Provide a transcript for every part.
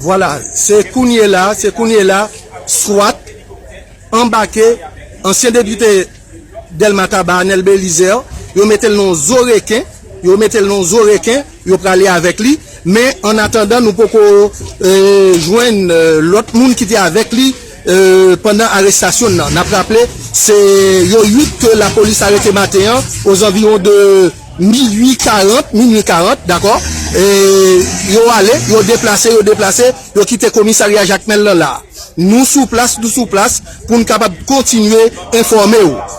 Vwala, se kounye la, se kounye la, swat anbake ansyen depite. Delma Taba Anel Belizaire yo metel nan yon zo reken yo metel nan yon zo reken yo prale avek li men an atandan nou poko jwenn lot moun ki te avek li pandan arestasyon nan nap raple se yo 8 ke la polis arete maten an ozanviron de minwi 40 minwi 40 dako yo ale yo deplase yo deplase yo kite komisarya Jakmel nan la. Nou sou plas nou sou plas pou n kapab kontinye enfòme w.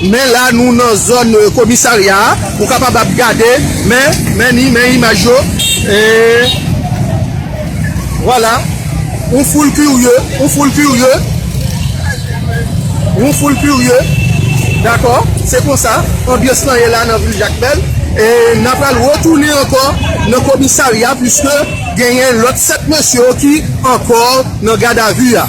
Men la nou nan zòn komisarya a, ou kapab ap gade, men, men ni, men imaj yo, e, vwala, yon foul kirye, yon foul kirye, yon foul kirye, dakò, se konsa, anbyans lan ye la nan vil Jakmèl, e, n ap pral retounen ankò nan komisarya pwiske genyen lòt 7 mesye yo ki ankò nan gadavi a.